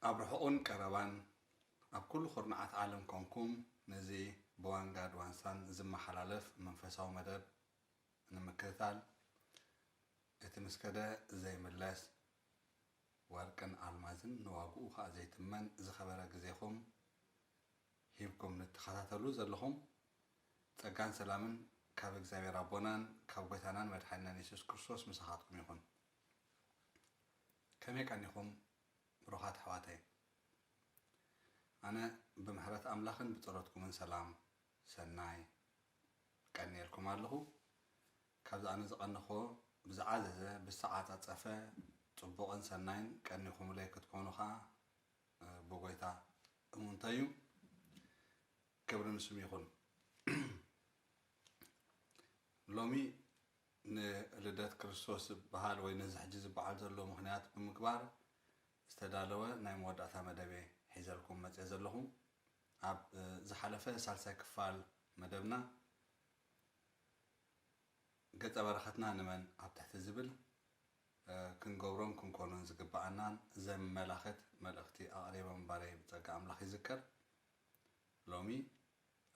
ኣብ ርሑቑን ቀረባን ኣብ ኩሉ ኩርናዓት ዓለም ኮንኩም ነዚ ብዋንጋድ ዋንሳን ዝመሓላለፍ መንፈሳዊ መደብ ንምክትታል እቲ ምስ ከደ ዘይምለስ ወርቅን ኣልማዝን ንዋግኡ ከኣ ዘይትመን ዝኸበረ ግዜኹም ሂብኩም ንትኸታተሉ ዘለኹም ጸጋን ሰላምን ካብ እግዚኣብሔር ኣቦናን ካብ ጎይታናን መድሓኒናን የሱስ ክርስቶስ ምሳኻትኩም ይኹን። ከመይ ቀኒኹም ብሩኻት ኣሕዋተይ ኣነ ብምሕረት ኣምላኽን ብጸሎትኩምን ሰላም ሰናይ ቀኒኤልኩም ኣለኹ ካብዚ ኣነ ዝቀነኹዎ ብዝዓዘዘ ብዝተዓጻጸፈ ጽቡቅን ሰናይን ቀኒኹምለይ ክትኮኑ ከኣ ብጎይታ እሙንተይ እዩ ክብሪ ንስሙ ይኹን ሎሚ ንልደት ክርስቶስ ዝበሃል ወይ ነዚ ሕጂ ዝበዓል ዘሎ ምክንያት ብምግባር ዝተዳለወ ናይ መወዳእታ መደብ ሒዘልኩም መጽየ ዘለኹ ኣብ ዝሓለፈ ሳልሳይ ክፋል መደብና ገጸ በረከትና ንመን ኣብ ትሕቲ ዝብል ክንገብሮን ክንኮኖን ዝግበኣናን ዘመላክት መልእክቲ ኣቅሪበ ምንባረይ ብጸጋ ኣምላክ ይዝከር። ሎሚ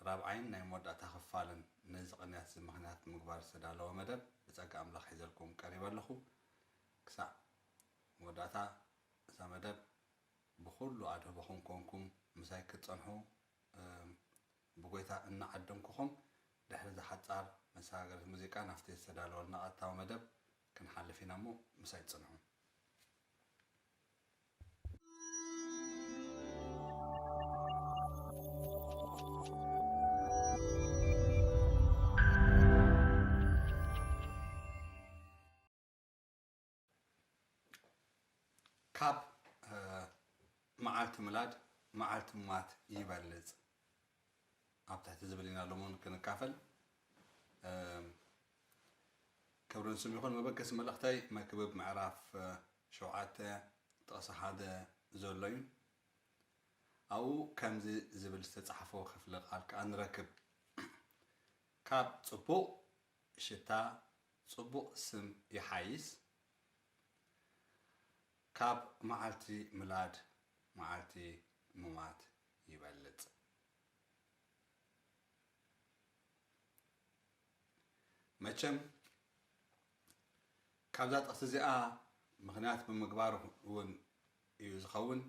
ራብዓይን ናይ መወዳእታ ክፋልን ነዚ ቅንያት እዚ ምክንያት ብምግባር ዝተዳለወ መደብ ብጸጋ ኣምላክ ሒዘልኩም ቀሪበ ኣለኩ። ክሳዕ መወዳእታ እዛ መደብ ብኹሉ ኣድህቦኹም ኮንኩም ምሳይ ክትጸንሑ ብጎይታ እናዓደምኩኹም፣ ድሕሪ እዛ ሓጻር መሰጋገሪት ሙዚቃ ናብቲ ዝተዳለወልና ቀጥታዊ መደብ ክንሓልፍ ኢና እሞ ምሳይ ጽንሑ። ካብ መዓልቲ ምላድ መዓልቲ ምማት ይበልፅ ኣብ ትሕቲ ዝብል ኢና ሎምን ክንካፈል ክብርን ስም ይኹን መበገሲ መልእኽተይ መክብብ ምዕራፍ ሸውዓተ ጥቕሲ ሓደ ዘሎ እዩ ኣብኡ ከምዚ ዝብል ዝተፃሕፎ ክፍለ ቃል ከዓ ንረክብ ካብ ፅቡቕ ሽታ ጽቡቅ ስም ይሓይስ ካብ መዓልቲ ምላድ መዓልቲ ሙማት ይበልጽ። መቸም ካብዛ ጥቅሲ እዚኣ ምኽንያት ብምግባር እውን እዩ ዝኸውን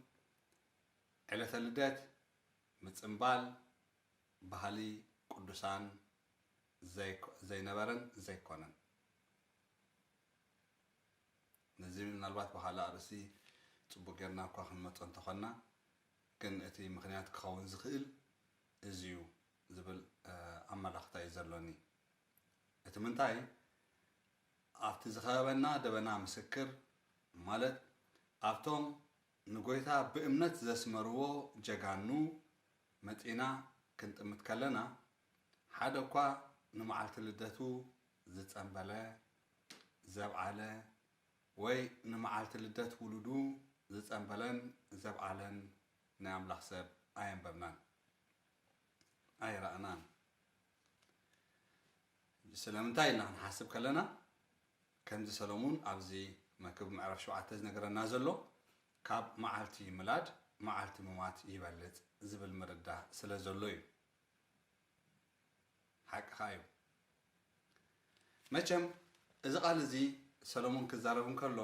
ዕለተ ልደት ምጽንባል ባህሊ ቅዱሳን ዘይነበረን ዘይኮነን ነዚ ምናልባት ብኻልእ ኣርእስቲ ጽቡቕ ጌርና እኳ ክንመጾ እንተኾንና ግን እቲ ምኽንያት ክኸውን ዝኽእል እዚ'ዩ ዝብል ኣመላኽታ'ዩ ዘሎኒ። እቲ ምንታይ ኣብቲ ዝኸበበና ደበና ምስክር ማለት ኣብቶም ንጎይታ ብእምነት ዘስመርዎ ጀጋኑ መጺእና ክንጥምት ከለና ሓደ እኳ ንመዓልቲ ልደቱ ዝጸንበለ፣ ዘብዓለ፣ ወይ ንመዓልቲ ልደት ውሉዱ ዝጸንበለን ዘብዓለን ናይ ኣምላኽ ሰብ ኣየንበብናን፣ ኣይረኣናን። ስለምንታይ ኢልና ክንሓስብ ከለና፣ ከምዚ ሰሎሙን ኣብዚ መክብብ ምዕራፍ ሸውዓተ ዝነገረና ዘሎ፣ ካብ መዓልቲ ምላድ መዓልቲ ምሟት ይበልጽ ዝብል ምርዳእ ስለ ዘሎ እዩ። ሓቅኻ እዩ መቸም እዚ ቃል እዚ ሰለሙን ክዛረብ እንከሎ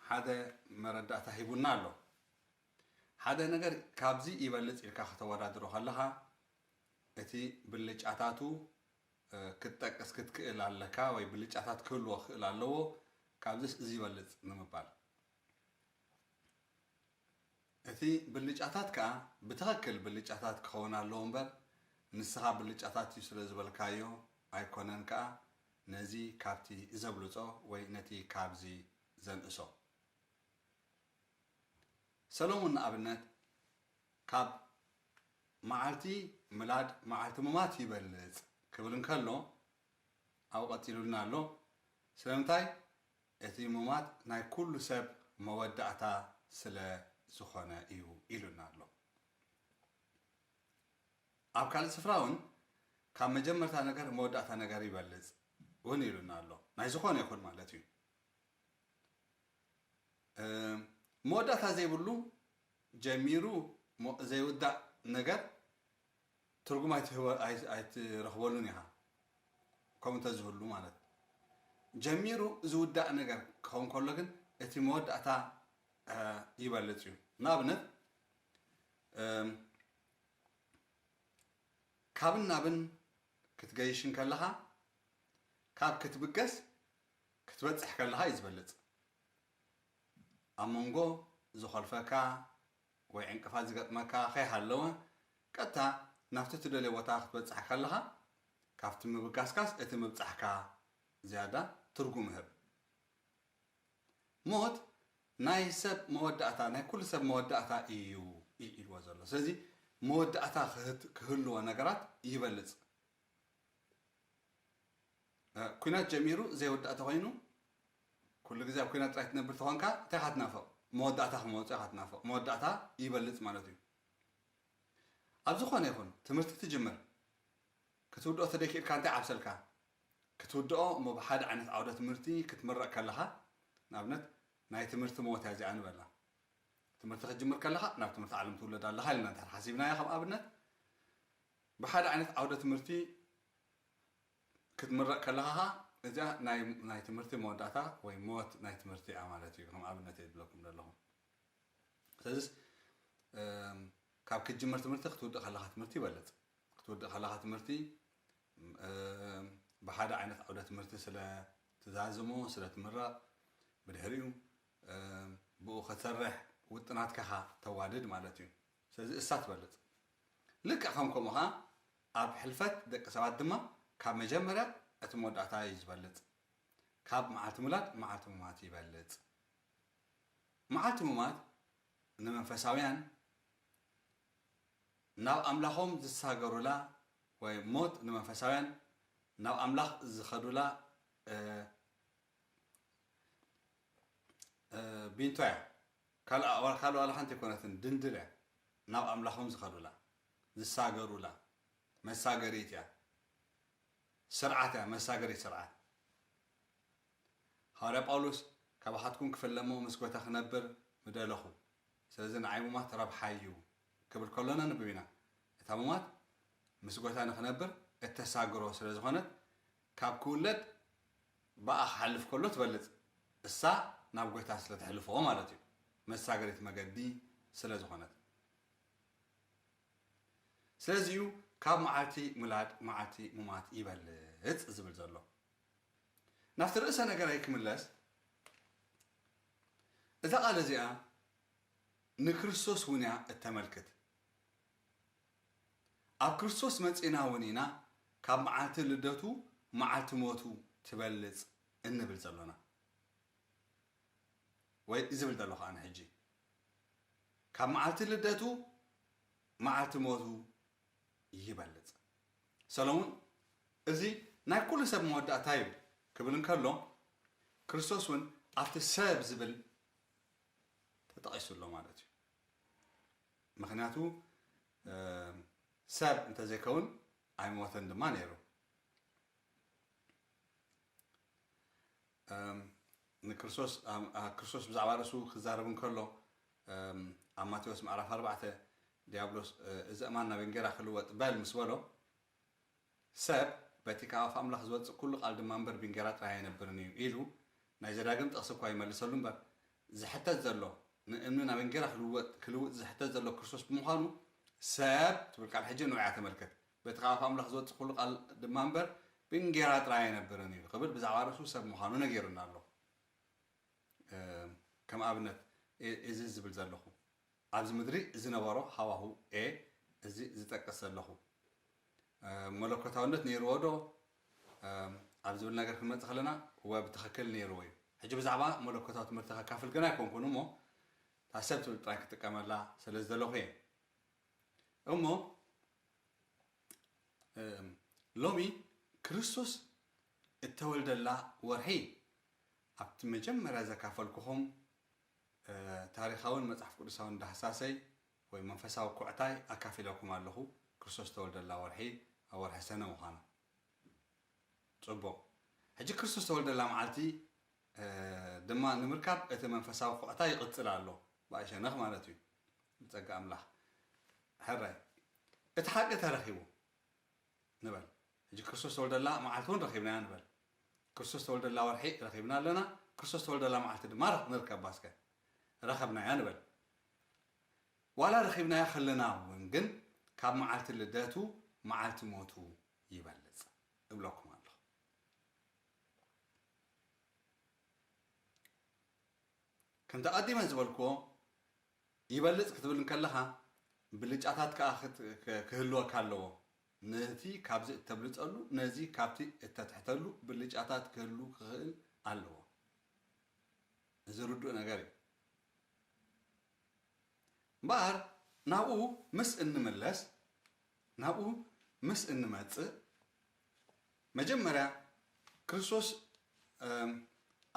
ሓደ መረዳእታ ሂቡና ኣሎ ሓደ ነገር ካብዚ ይበልጽ ኢልካ ከተወዳድሮ ከለኻ እቲ ብልጫታቱ ክትጠቅስ ክትክእል ኣለካ ወይ ብልጫታት ክህልዎ ክእል ኣለዎ ካብዚስ እዚ ይበልጽ ንምባል እቲ ብልጫታት ከኣ ብትኸክል ብልጫታት ክኸውን ኣለዎ እምበር ንስኻ ብልጫታት እዩ ስለ ዝበልካዮ ኣይኮነን ከኣ ነዚ ካብቲ ዘብልጾ ወይ ነቲ ካብዚ ዘንእሶ። ሰለሙን ንኣብነት ካብ መዓልቲ ምላድ መዓልቲ ምማት ይበልጽ ክብል እንከሎ ኣብኡ ቀጺሉልና ኣሎ ስለምንታይ እቲ ሙማት ናይ ኩሉ ሰብ መወዳእታ ስለ ዝኾነ እዩ ኢሉና ኣሎ። ኣብ ካልእ ስፍራ እውን ካብ መጀመርታ ነገር መወዳእታ ነገር ይበልጽ እውን ኢሉና ኣሎ። ናይ ዝኾነ ይኹን ማለት እዩ። መወዳእታ ዘይብሉ ጀሚሩ ዘይውዳእ ነገር ትርጉም ኣይትረኽበሉን ኢኻ ከምኡ እንተዝህሉ ማለት ጀሚሩ ዝውዳእ ነገር ክኸውን ከሎ ግን እቲ መወዳእታ ይበልፅ እዩ ንኣብነት ካብን ናብን ክትገይሽን ከለኻ ካብ ክትብገስ ክትበፅሕ ከለኻ እዩ ዝበልፅ ኣብ መንጎ ዝኾልፈካ ወይ ዕንቅፋት ዝገጥመካ ከይሃለወ ቀጥታ ናብቲ ትደልዮ ቦታ ክትበጽሕ ከለኻ ካብቲ ምብጋስካስ እቲ ምብጻሕካ ዝያዳ ትርጉም እህብ። ሞት ናይ ሰብ መወዳእታ ናይ ኩሉ ሰብ መወዳእታ ኢዩ ኢዩ ኢልዎ ዘሎ። ስለዚ መወዳእታ ክህልዎ ነገራት ይበልጽ ኩናት ጀሚሩ ዘይውዳእ ተኾይኑ ኩሉ ግዜ ኣብ ኩናት ጥራይ ትነብር ተኾንካ እንታይ ኢኻ ትናፍቕ መወዳእታ ክመወጾ ኢኻ ትናፍቕ መወዳእታ ይበልጽ ማለት እዩ ኣብ ዝኾነ ይኹን ትምህርቲ ትጅምር ክትውድኦ ተደይክኢልካ እንታይ ዓብሰልካ ክትውድኦ እሞ ብሓደ ዓይነት ዓውደ ትምህርቲ ክትምረቕ ከለኻ ንኣብነት ናይ ትምህርቲ መወት እያ እዚኣ ንበላ ትምህርቲ ክትጅምር ከለኻ ናብ ትምህርቲ ዓለም ትውለድ ኣለኻ ኢልና እንተ ሓሲብናያ ከም ኣብነት ብሓደ ዓይነት ዓውደ ትምህርቲ ክትምረቕ ከለኻ ከኣ እዚኣ ናይ ናይ ትምህርቲ መወዳእታ ወይ ሞት ናይ ትምህርቲ እያ ማለት እዩ ከም ኣብነት እየ ዝብለኩም ዘለኹ ስለዚስ ካብ ክትጅምር ትምህርቲ ክትውድእ ከለኻ ትምህርቲ ይበልፅ ክትውድእ ከለኻ ትምህርቲ ብሓደ ዓይነት ዓውደ ትምህርቲ ስለ ትዛዝሞ ስለ ትምረቕ ብድሕሪኡ ብኡ ከትሰርሕ ውጥናትካኻ ተዋድድ ማለት እዩ ስለዚ እሳ ትበልጽ። ልክዕ ከም ከምኡ ከኣ ኣብ ሕልፈት ደቂ ሰባት ድማ ካብ መጀመርያ እቲ መወዳእታ እዩ ዝበልጽ። ካብ መዓልቲ ምውላድ መዓልቲ ምሟት ይበልጽ። መዓልቲ ምሟት ንመንፈሳውያን ናብ ኣምላኾም ዝሳገሩላ ወይ ሞት ንመንፈሳውያን ናብ ኣምላኽ ዝኸዱላ ቢንቶ እያ ካልኣ ዋላ ካልእ ዋላ ሓንቲ ኣይኮነትን ድንድል እያ ናብ ኣምላኾም ዝኸዱላ ዝሳገሩላ መሳገሪት እያ ስርዓት እያ መሳገሪት ስርዓት ሃዋርያ ጳውሎስ ካባኻትኩም ክፍለሞ ምስ ጎታ ክነብር ምደለኹ ስለዚ ንዓይ ሙማት ረብሓ እዩ ክብል ከሎ ነንብብ ኢና እታ ሙማት ምስ ጎታ ንክነብር እተሳግሮ ስለ ዝኾነት ካብ ክውለድ ብኣ ክሓልፍ ከሎ ትበልጽ እሳ ናብ ጎይታ ስለ ተሕልፎ ማለት እዩ መሳገሪት መገዲ ስለ ዝኾነት ስለዚ እዩ ካብ መዓልቲ ምላድ መዓልቲ ሙማት ይበልጽ ዝብል ዘሎ ናብቲ ርእሰ ነገረይ ክምለስ እዛ ቃል እዚኣ ንክርስቶስ እውን እያ እተመልክት ኣብ ክርስቶስ መጺእና እውን ኢና ካብ መዓልቲ ልደቱ መዓልቲ ሞቱ ትበልጽ እንብል ዘሎና። ወይ ዝብል ዘለኹ ኣነ ሕጂ። ካብ መዓልቲ ልደቱ መዓልቲ ሞቱ ይበልጽ። ሰሎሙን እዚ ናይ ኩሉ ሰብ መወዳእታ እዩ ክብል እንከሎ ክርስቶስ እውን ኣብቲ ሰብ ዝብል ተጠቒሱ ኣሎ ማለት እዩ። ምኽንያቱ ሰብ እንተዘይከውን ኣይሞተን ድማ ነይሩ። ንክርስቶስክርስቶስ ብዛዕባ ርእሱ ክዛረብ እንከሎ ኣብ ማቴዎስ ምዕራፍ ኣርባዕተ ዲያብሎስ እዚ እማን ናብ እንጌራ ክልወጥ በል ምስ በሎ ሰብ በቲ ካብ ኣፍ ኣምላኽ ዝወጽእ ኵሉ ቓል ድማ እምበር ብእንጌራ ጥራይ ኣይነብርን እዩ ኢሉ ናይ ዘዳግም ጥቕሲ እኳ ይመልሰሉ እምበር፣ ዝሕተት ዘሎ ንእምኒ ናብ እንጌራ ክልወጥ ክልውጥ ዝሕተት ዘሎ ክርስቶስ ብምዃኑ ሰብ ትብል ቃል ሕጂ ንዑ እያ ተመልከት በቲ ካብ ኣፍ ኣምላኽ ዝወጽእ ኵሉ ቓል ድማ እምበር ብእንጌራ ጥራይ ኣይነብርን እዩ ክብል ብዛዕባ ርእሱ ሰብ ምዃኑ ነጊሩና ኣሎ። ከም ኣብነት እዚ ዝብል ዘለኹ። ኣብዚ ምድሪ ዝነበሮ ሃዋሁ a እዚ ዝጠቅስ ዘለኹ መለኮታውነት ነይርዎ ዶ ኣብ ዝብል ነገር ክንመጽእ ከለና እወ ብትኽክል ነይርዎ እዩ። ሕጂ ብዛዕባ መለኮታዊ ትምህርቲ ከካፍል ግን ኣይኮንኩን እሞ እታ ሰብ ትብል ጥራይ ክጥቀመላ ስለ ዝደለኹ እየ። እሞ ሎሚ ክርስቶስ እተወልደላ ወርሒ ኣብቲ መጀመርያ ዘካፈልኩኹም ታሪኻውን መጽሓፍ ቅዱሳውን ዳህሳሰይ ወይ መንፈሳዊ ኵዕታይ ኣካፊለኩም ኣለኹ፣ ክርስቶስ ዝተወልደላ ወርሒ ኣብ ወርሒ ሰነ ምዃና። ጽቡቕ። ሕጂ ክርስቶስ ዝተወልደላ መዓልቲ ድማ ንምርካብ እቲ መንፈሳዊ ኵዕታይ ይቕጽል ኣሎ፣ ብኣይ ሸነኽ ማለት እዩ። ብጸጋ ኣምላኽ። ሕራይ። እቲ ሓቂ ተረኺቡ። ንበል ሕጂ ክርስቶስ ዝተወልደላ መዓልቲ እውን ረኺብናያ ንበል ክርስቶስ ዝተወልደላ ወርሒ ረኺብና ኣለና ክርስቶስ ዝተወልደላ መዓልቲ ድማ ንርከባ እስከ ረኸብናያ ንበል ዋላ ረኺብናያ ከለና እውን ግን ካብ መዓልቲ ልደቱ መዓልቲ ሞቱ ይበልፅ እብለኩም ኣለኹ ከምቲ ኣቐዲመ ዝበልክዎ ይበልጽ ክትብል እንከለኻ ብልጫታት ከኣ ክህልወካ ኣለዎ። ነቲ ካብዚ እተብልጸሉ ነዚ ካብቲ እተትሕተሉ ብልጫታት ክህሉ ክኽእል ኣለዎ። እዚ ርዱእ ነገር እዩ። እምበኣር ናብኡ ምስ እንምለስ ናብኡ ምስ እንመጽእ መጀመርያ ክርስቶስ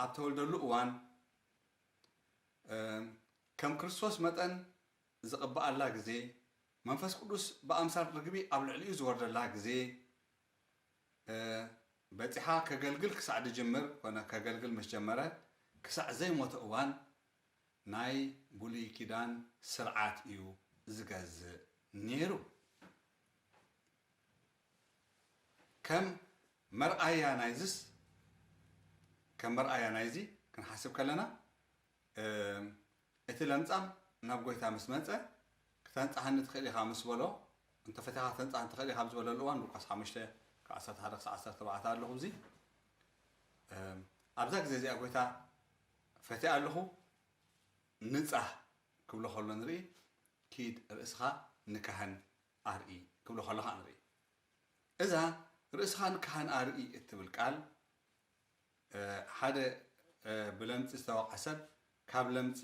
ኣብ ተወልደሉ እዋን ከም ክርስቶስ መጠን ዝቕብኣላ ግዜ፣ መንፈስ ቅዱስ ብኣምሳል ርግቢ ኣብ ልዕሊኡ ዝወርደላ ግዜ በጺሓ፣ ከገልግል ክሳዕ ዝጅምር ኮነ ከገልግል ምስ ጀመረ ክሳዕ ዘይሞተ እዋን ናይ ብሉይ ኪዳን ስርዓት እዩ ዝገዝእ ኔሩ። ከም መርኣያ ናይዝስ ከም መርኣያ ናይዚ ክንሓስብ ከለና እቲ ለምጻም ናብ ጎይታ ምስ መጸ ክተንጽሓኒ ትኽእል ኢኻ ምስ በሎ እንተፈቲኻ ክተንጽሓኒ ትኽእል ኢኻ ኣብ ዝበለሉ እዋን ሉቃስ 5 ካብ 11 ክሳዕ 14 ኣለኹ እዚ ኣብዛ ግዜ እዚኣ ጎይታ ፈቲኣ ኣለኹ ንጻህ ክብሎ ከሎ ንርኢ ኪድ ርእስኻ ንካህን ኣርኢ ክብሎ ከለኻ ንርኢ። እዛ ርእስኻን ካህን ኣርኢ እትብል ቃል ሓደ ብለምጺ ዝተወቕዐ ሰብ ካብ ለምጺ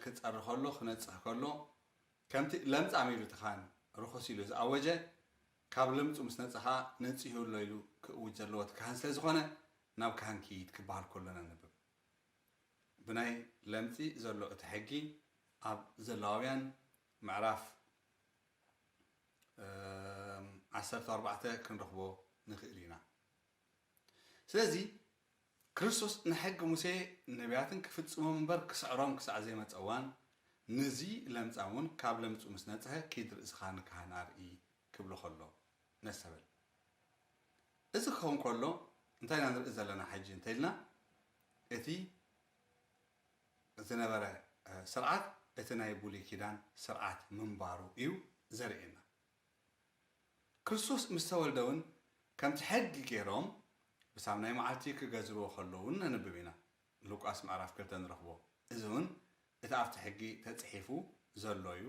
ክጸሪ ከሎ ክነጽህ ከሎ ከምቲ ለምጻም ኢሉ እቲ ካህን ርኹስ ኢሉ ዝኣወጀ ካብ ለምጹ ምስ ነጸ ከኣ ነጺሁ ኣሎ ኢሉ ክእውጅ ዘለዎ እቲ ካህን ስለ ዝኾነ ናብ ካህን ክይድ ክበሃል ከሎ ነንብብ። ብናይ ለምጺ ዘሎ እቲ ሕጊ ኣብ ዘሌዋውያን ምዕራፍ ዓሰርተ ኣርባዕተ ክንረኽቦ ንኽእል ኢና ስለዚ ክርስቶስ ንሕጊ ሙሴ ነቢያትን ክፍጽሞም እምበር ክስዕሮም ክሳዕ ዘይመጸ እዋን ነዚ ለምጻም እውን ካብ ለምጹ ምስ ነጽሀ ኪድ ርእስኻ ንካህን ኣርኢ ክብሎ ከሎ ነስተበል እዚ ክኸውን ከሎ እንታይ ኢና ንርኢ ዘለና ሕጂ እንተኢልና እቲ ዝነበረ ስርዓት እቲ ናይ ቡሉይ ኪዳን ስርዓት ምንባሩ እዩ ዘርእየና። ክርስቶስ ምስ ተወልደ ውን ከምቲ ሕጊ ጌሮም ብሳብ ናይ መዓልቲ ክገዝርዎ ከለዉ ውን ነንብብ ኢና ሉቃስ ምዕራፍ ክልተ ንረኽቦ እዚ ውን እቲ ኣብቲ ሕጊ ተጽሒፉ ዘሎ እዩ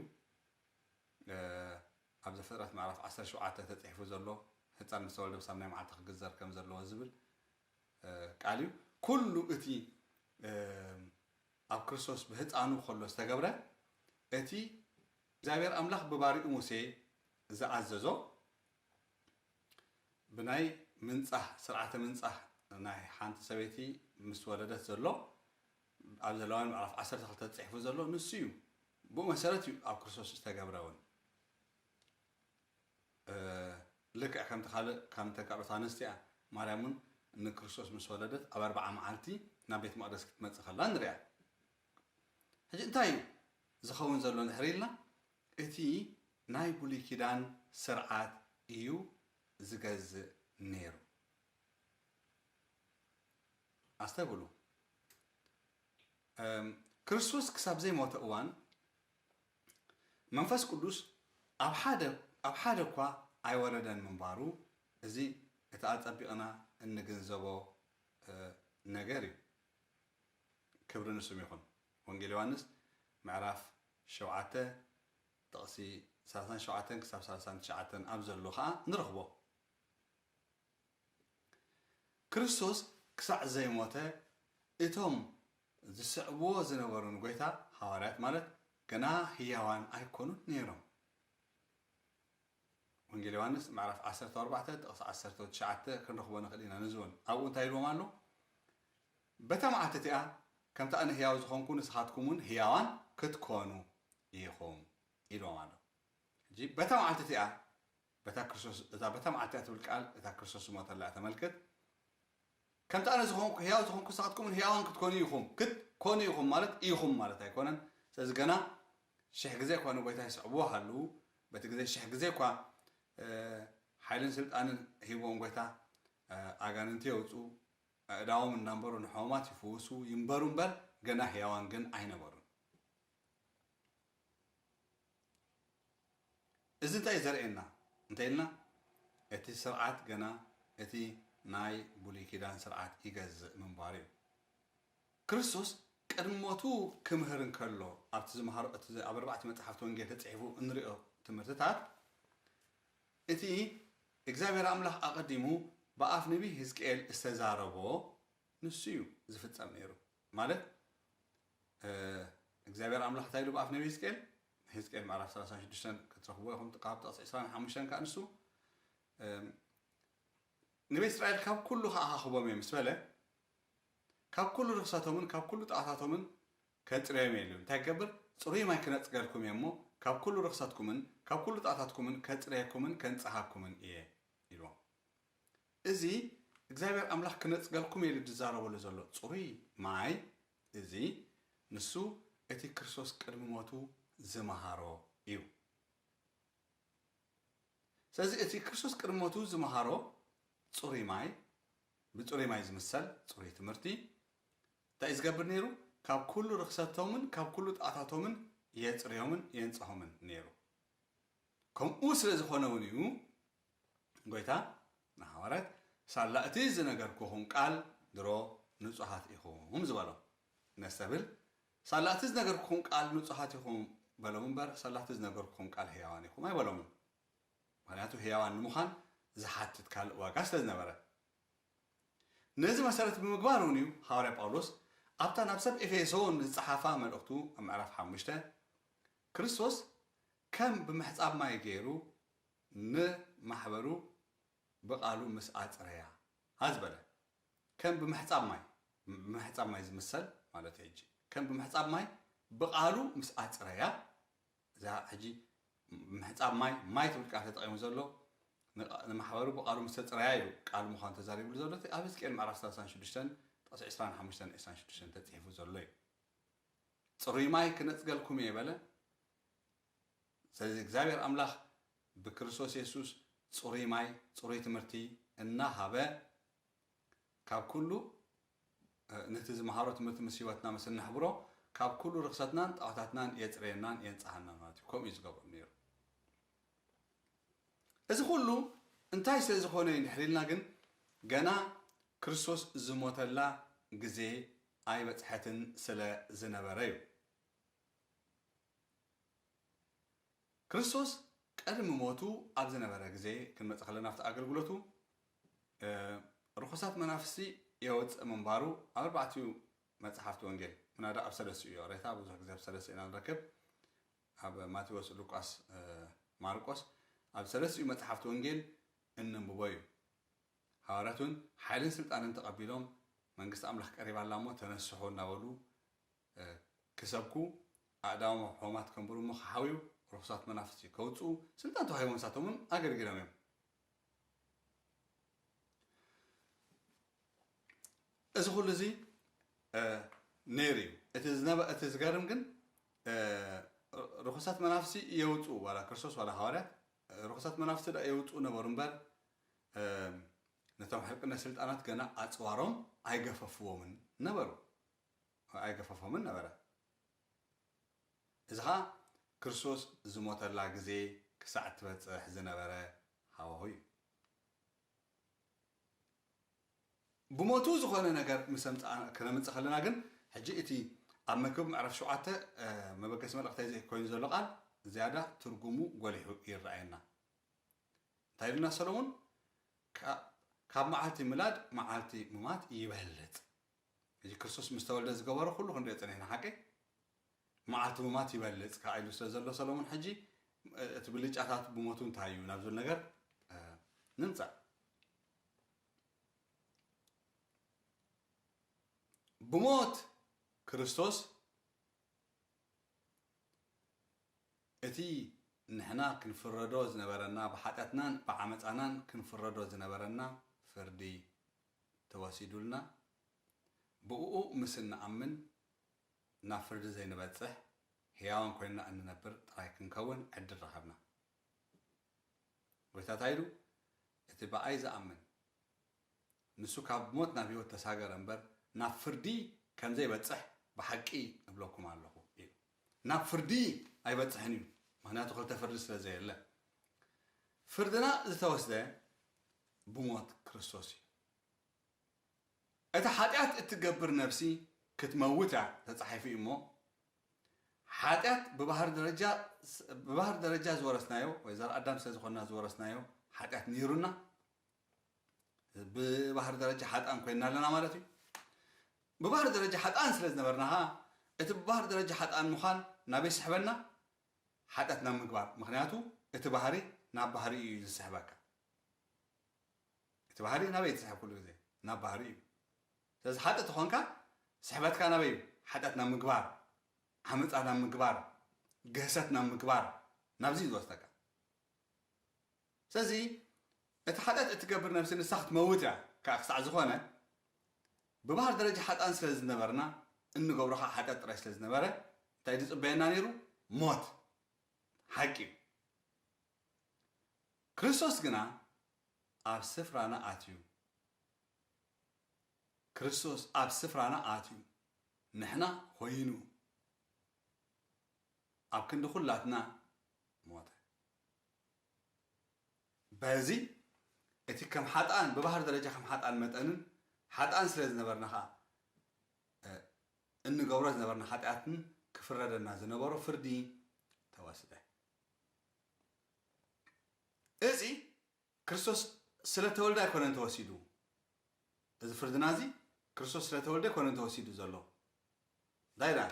ኣብ ዘፍጥረት ምዕራፍ ዓሰርተ ሸውዓተ ተጽሒፉ ዘሎ ህጻን ምስ ተወልደ ብሳብ ናይ መዓልቲ ክግዘር ከም ዘለዎ ዝብል ቃል እዩ። ኩሉ እቲ ኣብ ክርስቶስ ብሕጻኑ ከሎ ዝተገብረ እቲ እግዚኣብሔር ኣምላኽ ብባሪኡ ሙሴ ዝኣዘዞ ብናይ ምንጻህ ስርዓተ ምንጻህ ናይ ሓንቲ ሰበይቲ ምስ ወለደት ዘሎ ኣብ ዘለዋን ምዕራፍ ዓሰርተ ክልተ ተጽሒፉ ዘሎ ንሱ እዩ። ብኡ መሰረት እዩ ኣብ ክርስቶስ ዝተገብረ እውን። ልክዕ ከምቲ ካልእ ካብ ተጋሩት ኣንስቲ'ያ ማርያም ውን ንክርስቶስ ምስ ወለደት ኣብ ኣርብዓ መዓልቲ ናብ ቤት መቅደስ ክትመጽእ ከላ ንሪኣ ሕጂ እንታይ እዩ ዝኸውን ዘሎ ድሕሪ ኢልና እቲ ናይ ብሉይ ኪዳን ስርዓት እዩ ዝገዝእ ነይሩ ኣስተብሉ ክርስቶስ ክሳብ ዘይሞተ እዋን መንፈስ ቅዱስ ኣብ ሓደ ኣብ ሓደ እኳ ኣይወረደን ምንባሩ እዚ እቲ ኣጸቢቕና እንግንዘቦ ነገር እዩ። ክብሪ ንስም ይኹን። ወንጌል ዮሃንስ ምዕራፍ ሸውዓተ ጥቕሲ ሰላሳን ሸውዓተን ክሳብ ሰላሳን ትሽዓተን ኣብ ዘሎ ከኣ ንረኽቦ። ክርስቶስ ክሳዕ ዘይሞተ እቶም ዝስዕብዎ ዝነበሩ ንጐይታ፣ ሃዋርያት ማለት፣ ገና ህያዋን ኣይኰኑን ነይሮም። ወንጌል ዮሃንስ ምዕራፍ ዓሰርተ ኣርባዕተ ጥቕሲ ዓሰርተ ትሽዓተ ክንረኽቦ ንኽእል ኢና። ነዚ እውን ኣብኡ እንታይ ኢልዎም ኣሎ? በታ መዓልቲ እቲኣ ከምቲ ኣነ ህያው ዝዀንኩ ንስኻትኩም እውን ህያዋን ክትኰኑ ኢኹም ኢልዎም ኣሎ። ሕጂ በታ መዓልቲ እቲኣ በታ ክርስቶስ እታ በታ መዓልቲ እያ ትብል ቃል እታ ክርስቶስ ዝሞተላ እያ ተመልክት። ከምቲ ኣነ ዝኾንኩ ሕያው ዝኾንኩ ንስኻትኩምን ሕያዋን ክትኮኑ ኢኹም ክት ኮኑ ኢኹም ማለት ኢኹም ማለት ኣይኮነን። ስለዚ ገና ሽሕ ግዜ እኳ ንጎይታ ይስዕብዎ ሃልዉ በቲ ግዜ ሽሕ ግዜ እኳ ሓይልን ስልጣንን ሂብዎም ጎይታ ኣጋንንቲ የውፅኡ ኣእዳዎም እናንበሩ ንሕሙማት ይፍውሱ ይንበሩ እምበር ገና ሕያዋን ግን ኣይነበሩን። እዚ እንታይ እዩ ዘርእየና እንተኢልና እቲ ስርዓት ገና እቲ ናይ ብሉይ ኪዳን ስርዓት ይገዝእ ምንባሩ እዩ። ክርስቶስ ቅድሚ ሞቱ ክምህር እንከሎ ኣብቲ ዝመሃሮ እቲ ኣብ ኣርባዕተ መጽሓፍቲ ወንጌል ተጽሒፉ እንርእዮ ትምህርትታት እቲ እግዚኣብሔር ኣምላኽ ኣቐዲሙ ብኣፍ ነቢይ ህዝቅኤል ዝተዛረቦ ንሱ እዩ ዝፍጸም ነይሩ ማለት እግዚኣብሄር ኣምላኽ እንታይ ኢሉ ብኣፍ ነብዪ ህዝቅኤል፣ ህዝቅኤል ምዕራፍ ሰላሳን ሽዱሽተን ክትረኽብዎ ኢኹም ካብ ጥቕሲ ዕስራን ሓሙሽተን ከኣ ንሱ ንቤት እስራኤል ካብ ኩሉ ከኣ ካኽቦም እየ ምስ በለ ካብ ኩሉ ርኽሰቶምን ካብ ኩሉ ጣዖታቶምን ከጽርዮም እየ ኢሉ እንታይ ክገብር ጽሩይ ማይ ክነጽገልኩም እየ እሞ ካብ ኩሉ ርኽሰትኩምን ካብ ኩሉ ጣዖታትኩምን ከጽርየኩምን ከንጽሃኩምን እየ ኢልዎም እዚ እግዚኣብሔር ኣምላኽ ክነጽገልኩም ኢሉ ዝዛረበሉ ዘሎ ጽሩይ ማይ እዚ ንሱ እቲ ክርስቶስ ቅድሚ ሞቱ ዝመሃሮ እዩ። ስለዚ እቲ ክርስቶስ ቅድሚ ሞቱ ዝመሃሮ ጽሩይ ማይ፣ ብጽሩይ ማይ ዝምሰል ጽሩይ ትምህርቲ፣ እንታይ እዩ ዝገብር ነይሩ? ካብ ኩሉ ርኽሰቶምን ካብ ኩሉ ጥኣታቶምን የጽርዮምን የንጽሆምን ነይሩ። ከምኡ ስለ ዝኾነ እውን እዩ ጐይታ ንሃዋርያት ሳላ እቲ ዝነገርኩኹም ቃል ድሮ ንጹሃት ኢኹም ዝበሎም ነስተብህል ሳላ እቲ ዝነገርኩኹም ቃል ንጹሃት ኢኹም በሎም እምበር ሳላ እቲ ዝነገርኩኹም ቃል ህያዋን ኢኹም ኣይበሎምን ምክንያቱ ህያዋን ንምዃን ዝሓትት ካልእ ዋጋ ስለ ዝነበረ ነዚ መሰረት ብምግባር እውን እዩ ሃዋርያ ጳውሎስ ኣብታ ናብ ሰብ ኤፌሶን ዝጸሓፋ መልእኽቱ ኣብ ምዕራፍ ሓሙሽተ ክርስቶስ ከም ብምሕጻብ ማይ ገይሩ ን ማሕበሩ ብቃሉ ምስ ኣጽረያ ሃዝ በለ ከም ብምሕጻብ ማይ ብምሕጻብ ማይ ዝምሰል ማለተይ ሕጂ ከም ብምሕጻብ ማይ ብቃሉ ምስ ኣጽረያ እዛ ሕጂ ምሕጻብ ማይ ማይ ትብል ቃል ተጠቂሙ ዘሎ ን ማሕበሩ ብቃሉ ምስ ተጽረያ ኢሉ ቃሉ ምዃኑ ተዛሪብሉ ዘሎ እቲ ኣብ ህዝቅኤል ምዕራፍ ሰላሳን ሽዱሽተን ጥቕሲ ዕስራን ሓሙሽተን ዕስራን ሽዱሽተን ተጺሒፉ ዘሎ እዩ ጽሩይ ማይ ክነጽገልኩም እየ በለ ስለዚ እግዚኣብሔር ኣምላኽ ብክርስቶስ የሱስ ጽሩይ ማይ ጽሩይ ትምህርቲ እናሃበ ካብ ኩሉ ነቲ ዝመሃሮ ትምህርቲ ምስ ህይወትና ምስ እነሕብሮ ካብ ኩሉ ርክሰትናን ጣዖታትናን የጽረየናን የንጽሃናን ማለት እዩ ከምኡ እዩ ዝገብሮ ነይሩ እዚ ኩሉ እንታይ ስለ ዝኾነ እዩ ድሕሪ ኢልና ግን ገና ክርስቶስ ዝሞተላ ግዜ ኣይበጽሐትን ስለ ዝነበረ እዩ ክርስቶስ ቀድሚ ሞቱ ኣብ ዝነበረ ግዜ ክንመጽእ ከለና ኣብቲ ኣገልግሎቱ ርኹሳት መናፍስቲ የወጽእ ምንባሩ ኣብ ኣርባዕቲኡ መጽሓፍቲ ወንጌል ምናዳ ኣብ ሰለስቲኡ እዩ ሬታ ብዙሕ ግዜ ኣብ ሰለስቲኡ ኢና ንረክብ ኣብ ማቴዎስ ሉቃስ ማርቆስ ኣብ ሰለስቲኡ መጽሓፍቲ ወንጌል እንንብቦ እዩ ሃዋርያት እውን ሓይልን ስልጣንን ተቐቢሎም መንግስቲ ኣምላኽ ቀሪባ ኣላ እሞ ተነስሑ እናበሉ ክሰብኩ፣ ኣእዳዎም ኣብ ሖማት ከንብሩ እሞ ክሓውዩ፣ ርኹሳት መናፍስቲ ከውጽኡ፣ ስልጣን ተዋሂቦም ንሳቶም እውን ኣገልጊሎም እዮም። እዚ ኩሉ እዚ ነይሩ እዩ። እቲ ዝነበ እቲ ዝገርም ግን ርኹሳት መናፍስቲ የውጽኡ ዋላ ክርስቶስ ዋላ ሃዋርያት ርኹሳት መናፍስቲ ደኣ የውጽኡ ነበሩ እምበር ነቶም ሕልቅነት ስልጣናት ገና ኣጽዋሮም ኣይገፈፍዎምን ነበሩ። ኣይገፈፎምን ነበረ። እዚ ኸኣ ክርስቶስ ዝሞተላ ግዜ ክሳዕ እትበጽሕ ዝነበረ ሃዋሁ እዩ። ብሞቱ ዝኾነ ነገር ምስ ኣምጻእና ክነምጽእ ከለና ግን ሕጂ እቲ ኣብ መክብብ ምዕራፍ ሸውዓተ መበገሲ መልእኽተይ እዚ ኮይኑ ዘሎ ቃል ዝያዳ ትርጉሙ ጎሊሑ ይረኣየና። እንታይ ኢሉና ሰሎሞን? ካብ መዓልቲ ምላድ መዓልቲ ምማት ይበልጽ። ሕጂ ክርስቶስ ምስ ተወልደ ዝገበሮ ኩሉ ክንሪኦ ጸኒሕና ሓቀይ? መዓልቲ ሙማት ይበልጽ ከኣ ኢሉ ስለ ዘሎ ሰሎሙን ሕጂ እቲ ብልጫታቱ ብሞቱ እንታይ እዩ ናብ ዝብል ነገር ንምጻእ። ብሞት ክርስቶስ እቲ ንሕና ክንፍረዶ ዝነበረና ብሓጢኣትናን ብዓመጻናን ክንፍረዶ ዝነበረና ፍርዲ ተወሲዱልና ብእኡ ምስ እንኣምን ናብ ፍርዲ ዘይንበጽሕ ሕያዋን ኮይንና እንነብር ጥራይ ክንከውን ዕድል ረኸብና። ጐይታ እንታይ ኢሉ? እቲ ብኣይ ዝኣምን ንሱ ካብ ሞት ናብ ሕይወት ተሳገረ እምበር ናብ ፍርዲ ከም ዘይበጽሕ ብሓቂ እብለኩም ኣሎኹ ኢሉ። ናብ ፍርዲ ኣይበጽሕን እዩ ምክንያቱ ክልተ ፍርዲ ስለ ዘየለ ፍርድና ዝተወስደ ብሞት ክርስቶስ እዩ እታ ሓጢኣት እትገብር ነብሲ ክትመውት እያ ተጻሒፉ እዩ እሞ ሓጢኣት ብባህር ደረጃ ብባህር ደረጃ ዝወረስናዮ ወይ ዘር ኣዳም ስለ ዝኾንና ዝወረስናዮ ሓጢኣት ነይሩና ብባህሪ ደረጃ ሓጥኣን ኮይንና ኣለና ማለት እዩ። ብባህሪ ደረጃ ሓጥኣን ስለ ዝነበርና ኸኣ እቲ ብባህሪ ደረጃ ሓጥኣን ምዃን ናበይ ይስሕበና? ሓጢኣት ናብ ምግባር። ምኽንያቱ እቲ ባህሪ ናብ ባህሪ እዩ ዝስሕበካ። እቲ ባህሪ ናበይ ትስሕብ ኩሉ ግዜ? ናብ ባህሪ እዩ። ስለዚ ሓጥእ ተኾንካ ስሕበትካ ናበይ እዩ? ሓጢኣት ናብ ምግባር፣ ዓመፃ ናብ ምግባር፣ ግህሰት ናብ ምግባር ናብዚ እዩ ዝወስደካ። ስለዚ እቲ ሓጢኣት እትገብር ነብሲ ንሳ ክትመውት እያ ከኣ ክሳዕ ዝኾነ ብባህሪ ደረጃ ሓጥኣን ስለ ዝነበርና እንገብሮ ከኣ ሓጢኣት ጥራይ ስለ ዝነበረ እንታይ እዩ ዝጽበየና ነይሩ ሞት ሓቂ እዩ ክርስቶስ ግና ኣብ ስፍራና ኣትዩ ክርስቶስ ኣብ ስፍራና ኣትዩ ንሕና ኮይኑ ኣብ ክንዲ ኩላትና ሞተ በዚ እቲ ከም ሓጥኣን ብባህሪ ደረጃ ከም ሓጥኣን መጠንን ሓጥኣን ስለ ዝነበርና ከኣ እንገብሮ ዝነበርና ሓጢኣትን ክፍረደና ዝነበሮ ፍርዲ ተወስደ። እዚ ክርስቶስ ስለ ተወልደ ኣይኮነን ተወሲዱ። እዚ ፍርድና እዚ ክርስቶስ ስለ ተወልደ ኣይኮነን ተወሲዱ ዘሎ ዳይ ዳኣ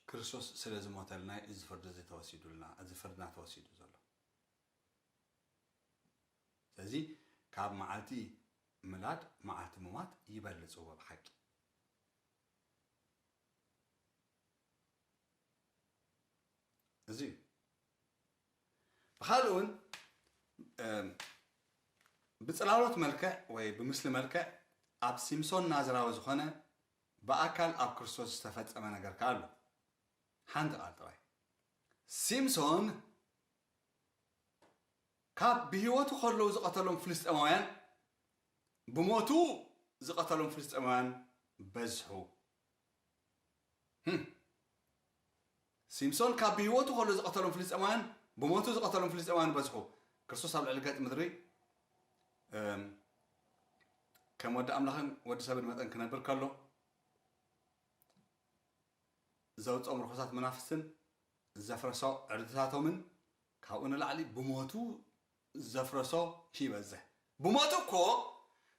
ክርስቶስ ስለ ዝሞተልና እዩ እዚ ፍርዲ እዚ ተወሲዱልና እዚ ፍርድና ተወሲዱ ዘሎ ስለዚ ካብ መዓልቲ ምላድ መዓልቲ ምሟት ይበልጽዎ ብሓቂ እዚ እዩ ብኻልእ እውን ብፅላሎት መልክዕ ወይ ብምስሊ መልክዕ ኣብ ሲምሶን ናዝራዊ ዝኾነ ብኣካል ኣብ ክርስቶስ ዝተፈፀመ ነገር ከዓ ኣሎ። ሓንቲ ቃል ጥራይ ሲምሶን ካብ ብህይወቱ ከለዉ ዝቐተሎም ፍልስጤማውያን ብሞቱ ዝቐተሎም ፍልስጤማውያን በዝሑ ህም ሲምሶን ካብ ብህይወቱ ከሎ ዝቐተሎም ፍልስጤማውያን ብሞቱ ዝቐተሎም ፍልስጤማውያን በዝሑ ክርስቶስ ኣብ ልዕሊ ገጽ ምድሪ ከም ወዲ ኣምላኽን ወዲ ሰብን መጠን ክነብር ከሎ ዘውፅኦም ርኹሳት መናፍስትን ዘፍረሶ ዕርድታቶምን ካብኡ ንላዕሊ ብሞቱ ዘፍረሶ ይበዝሕ ብሞቱ እኮ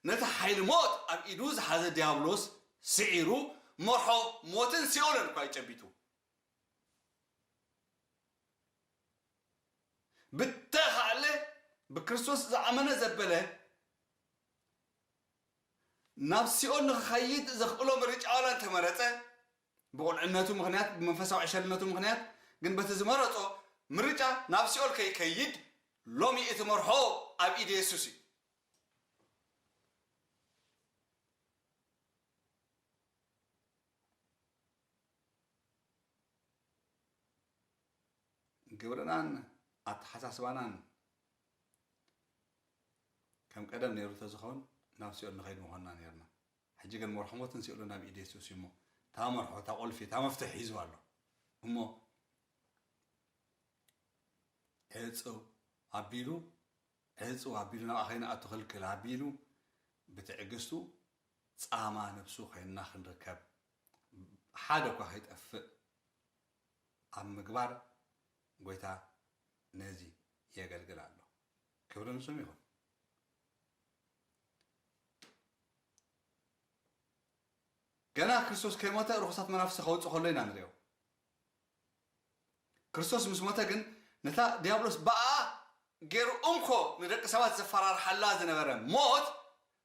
ነቲ ሓይሊ ሞት ኣብ ኢዱ ዝሓዘ ድያብሎስ ስዒሩ መርሖ ሞትን ሲኦልን እኳ እዩ ጨቢጡ ብተኻእለ ብክርስቶስ ዝኣመነ ዘበለ ናብ ሲኦል ንክኸይድ ዘኽእሎ ምርጫ ዋላ እንተመረጸ ብቑልዕነቱ ምኽንያት፣ ብመንፈሳዊ ዕሸልነቱ ምኽንያት ግን በቲ ዝመረጾ ምርጫ ናብ ሲኦል ከይከይድ ሎሚ እቲ መርሖ ኣብ ኢድ የሱስ እዩ። ግብርናን ኣተሓሳስባናን ከም ቀደም ነይሩ እንተዝኸውን ናብ ሲኦል ንኸይድ ምኾንና ነይርና። ሕጂ ግን መርሕሞ ትንሲኡ ሎና ኣብ ኢድ የሱስ እዩ እሞ እታ መርሖ እታ ቁልፊ እታ መፍትሕ ሒዙ ኣሎ እሞ ዕጽው ኣቢሉ ዕጽው ኣቢሉ ናብኣ ከይንኣቱ ክልክል ኣቢሉ ብትዕግስቱ ጻማ ነብሱ ኮይንና ክንርከብ ሓደ እኳ ከይጠፍእ ኣብ ምግባር ጎይታ ነዚ የገልግል ኣሎ ክብሪ ንስም ይኹን ገና ክርስቶስ ከይሞተ ርኹሳት መናፍስቲ ከውጽእ ከሎ ኢና ንርእዮ። ክርስቶስ ምስ ሞተ ግን ነታ ድያብሎስ ብኣኣ ገይሩ እንኮ ንደቂ ሰባት ዘፈራርሓላ ዝነበረ ሞት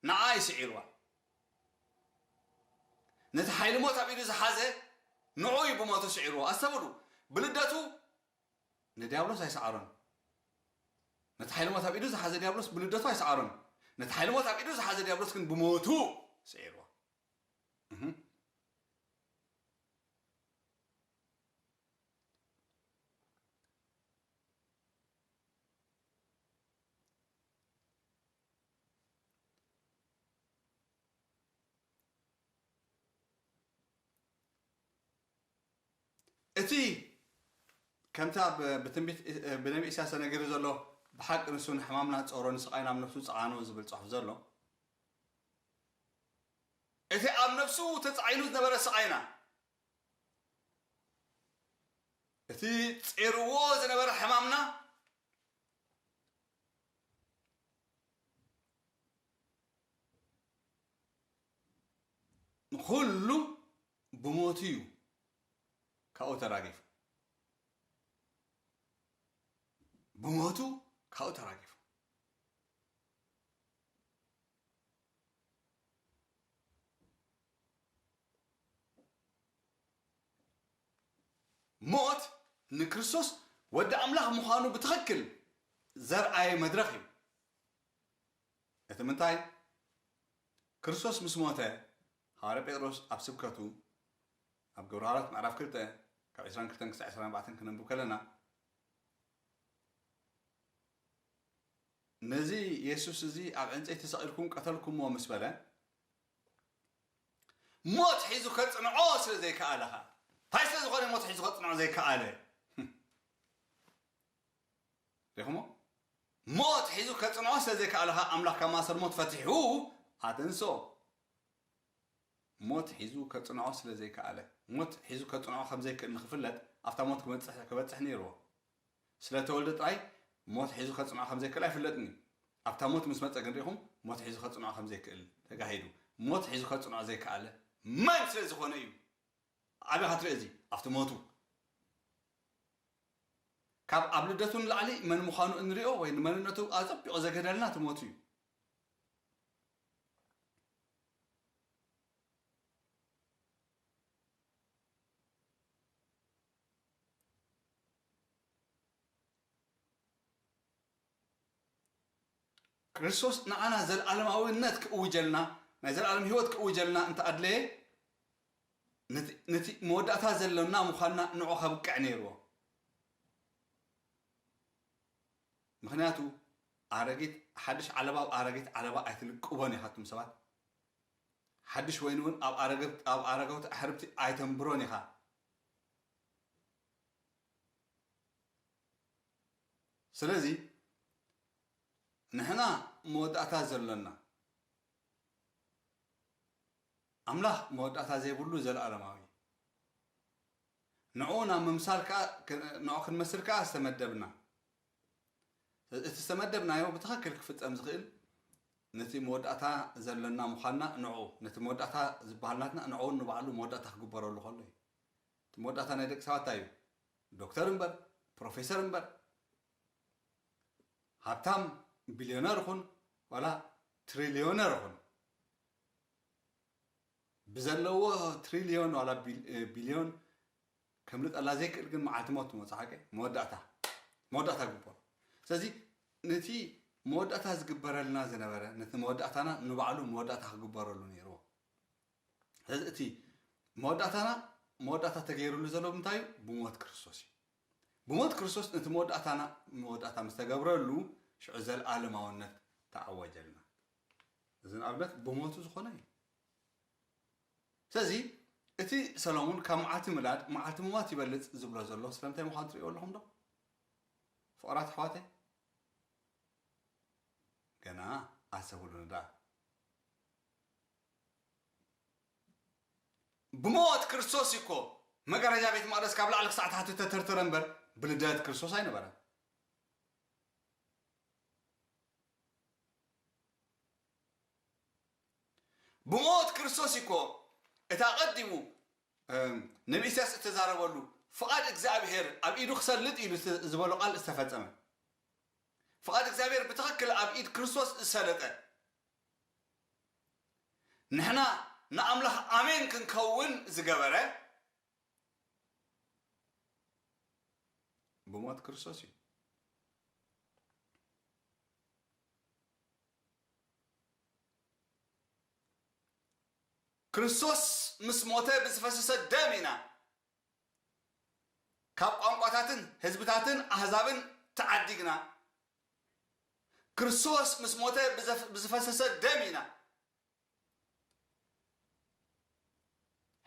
ንዓ እዩ ስዒርዋ። ነቲ ሓይሊ ሞት ኣብ ኢዱ ዝሓዘ ንዑኡ እዩ ብሞቱ ስዒርዎ። ኣስተብህሉ፣ ብልደቱ ንድያብሎስ ኣይሰዓሮን። ነቲ ሓይሊ ሞት ኣብ ኢዱ ዝሓዘ ድያብሎስ ብልደቱ ኣይሰዓሮን። ነቲ ሓይሊ ሞት ኣብ ኢዱ ዝሓዘ ድያብሎስ ግን ብሞቱ ስዒርዎ። እህ። እቲ ከምቲ ኣብ ብትንቢት ብነቢ ኢሳያስ ተነጊሩ ዘሎ ብሓቂ ንሱ ንሕማምና ጸሮ ንስቓይና ኣብ ነፍሱ ጸዓኖ ዝብል ጽሑፍ ዘሎ፣ እቲ ኣብ ነፍሱ ተጻዒኑ ዝነበረ ስቓይና፣ እቲ ጼርዎ ዝነበረ ሕማምና፣ ንኹሉ ብሞቱ እዩ ካብኡ ተራጊፉ። ብሞቱ ካብኡ ተራጊፉ። ሞት ንክርስቶስ ወዲ ኣምላኽ ምዃኑ ብትኽክል ዘርኣየ መድረኽ እዩ። እቲ ምንታይ ክርስቶስ ምስ ሞተ ሃዋርያ ጴጥሮስ ኣብ ስብከቱ ኣብ ግብረ ሃዋርያት ምዕራፍ ክልተ ካብ ዕስራን ክልተን ክሳዕ ዕስራን ኣርባዕተን ክነንብብ ከለና ነዚ የሱስ እዚ ኣብ ዕንጸይቲ ተሰቒልኩም ቀተልኩምዎ ምስ በለ ሞት ሒዙ ከጽንዖ ስለ ዘይከኣለ ኸኣ እንታይ ስለ ዝኾነ ሞት ሒዙ ከጽንዖ ዘይከኣለ ሪኹሞ ሞት ሒዙ ከጽንዖ ስለ ዘይከኣለ ኸኣ ኣምላኽ ካብ ማእሰር ሞት ፈቲሑ ኣተንስኦ ሞት ሒዙ ከጽንዖ ስለ ዘይከኣለ። ሞት ሒዙ ከጽንዖ ከም ዘይክእል ንኽፍለጥ ኣብታ ሞት ክበጽሕ ክበጽሕ ነይርዎ። ስለ ተወልደ ጥራይ ሞት ሒዙ ከጽንዖ ከም ዘይክእል ኣይፍለጥን እዩ። ኣብታ ሞት ምስ መጸ ግን ርኢኹም ሞት ሒዙ ከጽንዖ ከም ዘይክእል ተጋሂዱ። ሞት ሒዙ ከጽንዖ ዘይከኣለ መን ስለ ዝኾነ እዩ? ኣበኻ ትርእዮ እዚ ኣብቲ ሞቱ። ካብ ኣብ ልደቱ ንላዕሊ መን ምዃኑ እንርእዮ ወይ ንመንነቱ ኣጸቢቑ ዘግህደልና እቲ ሞቱ እዩ። ክርስቶስ ንዓና ዘለኣለማዊነት ክእውጀልና፣ ናይ ዘለኣለም ህይወት ክእውጀልና እንተ ኣድለየ፣ ነቲ መወዳእታ ዘሎና ምዃንና ንዑ ከብቅዕ ነይርዎ። ምኽንያቱ ኣረጊት ሓድሽ ዓለባ ኣብ ኣረጊት ዓለባ ኣይትልቅቦን ኢኻ ኣቱም ሰባት ሓድሽ ወይኒ እውን ኣብ ኣረግብት ኣብ ኣረገውቲ ኣሕርብቲ ኣይተንብሮን ኢኻ ስለዚ ንሕና መወዳእታ ዘሎና ኣምላኽ መወዳእታ ዘይብሉ ዘለኣለማዊ እዩ ንዕኡ ናብ ምምሳል ከኣ ንዕኡ ክንመስል ከኣ ዝተመደብና። ስለዚ እቲ ዝተመደብናዮ ብትኽክል ክፍጸም ዝኽእል ነቲ መወዳእታ ዘሎና ምዃንና ንዕኡ ነቲ መወዳእታ ዝበሃል ናትና ንዕኡን ንባዕሉ መወዳእታ ክግበረሉ ከሎ እዩ። እቲ መወዳእታ ናይ ደቂ ሰባት እንታይ እዩ? ዶክተር እምበር፣ ፕሮፌሰር እምበር፣ ሃብታም ቢልዮነር ኹን ዋላ ትሪልዮነር ኹን፣ ብዘለዎ ትሪልዮን ዋላ ቢልዮን ከምልጠላ ዘይክእል ግን መዓልቲ ሞት ትመጽሓከ መወዳእታ መወዳእታ ግቦ ስለዚ ነቲ መወዳእታ ዝግበረልና ዝነበረ ነቲ መወዳእታና ንባዕሉ መወዳእታ ክግበረሉ ነይርዎ ስለዚ እቲ መወዳእታና መወዳእታ ተገይሩሉ ዘሎ ብምንታይ እዩ ብሞት ክርስቶስ እዩ ብሞት ክርስቶስ ነቲ መወዳእታና መወዳእታ ምስ ተገብረሉ ሽዑ ዘለኣለማውነት ተኣወጀልና እዚ ንኣብነት ብሞቱ ዝኾነ እዩ። ስለዚ እቲ ሰሎሙን ካብ መዓልቲ ምላድ መዓልቲ ምሟት ይበልጽ ዝብሎ ዘሎ ስለምንታይ ምዃኑ ትርእይዎ ኣለኹም ዶ? ፍቕራት ኣሕዋተይ ገና ኣሰብሉኒ ደኣ። ብሞት ክርስቶስ እዩ እኮ መጋረጃ ቤት መቕደስ ካብ ላዕሊ ክሳዕ ታሕቲ ተተርተረ እምበር ብልደት ክርስቶስ ኣይነበረን። ብሞት ክርስቶስ እዩ እኮ እቲ ኣቐዲሙ ንኢሳያስ እተዛረበሉ ፍቓድ እግዚኣብሔር ኣብ ኢዱ ክሰልጥ ኢሉ ዝበሎ ቃል ዝተፈጸመ። ፍቓድ እግዚኣብሔር ብትኽክል ኣብ ኢድ ክርስቶስ ዝሰለጠ ንሕና ንኣምላኽ ኣሜን ክንከውን ዝገበረ ብሞት ክርስቶስ እዩ። ክርስቶስ ምስ ሞተ ብዝፈሰሰ ደም ኢና ካብ ቋንቋታትን ህዝብታትን ኣህዛብን ተዓዲግና። ክርስቶስ ምስ ሞተ ብዝፈሰሰ ደም ኢና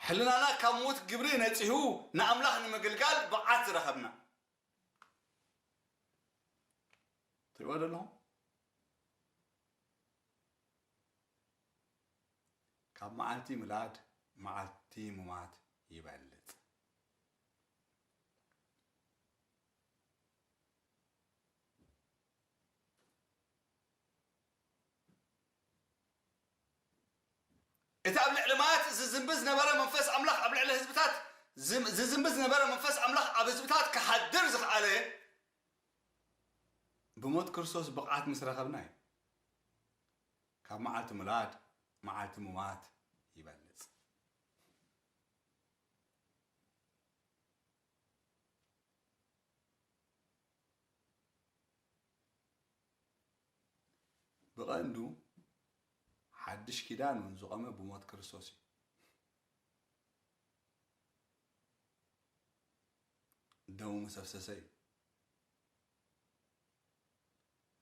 ሕልናና ካብ ምዉት ግብሪ ነጺሁ ንኣምላኽ ንምግልጋል ብቕዓት ዝረኸብና። ትርእይዎ ዶ ኣለኹም? ካብ መዓልቲ ምላድ መዓልቲ ምሟት ይበልጽ። እቲ ኣብ ልዕሊ ማያት ዚዝምቢ ዝነበረ መንፈስ ኣምላኽ ኣብ ልዕሊ ህዝብታት ዚዝምቢ ዝነበረ መንፈስ ኣምላኽ ኣብ ህዝብታት ኪሓድር ዝኸኣለ ብሞት ክርስቶስ ብቕዓት ምስ ረኸብና እዩ። ካብ መዓልቲ ምላድ መዓልቲ ምዋት ይበልጽ። ብቐንዱ ሓድሽ ኪዳን እውን ዝቖመ ብሞት ክርስቶስ እዩ። ደሙ ምስ ኣፍሰሰ እዩ።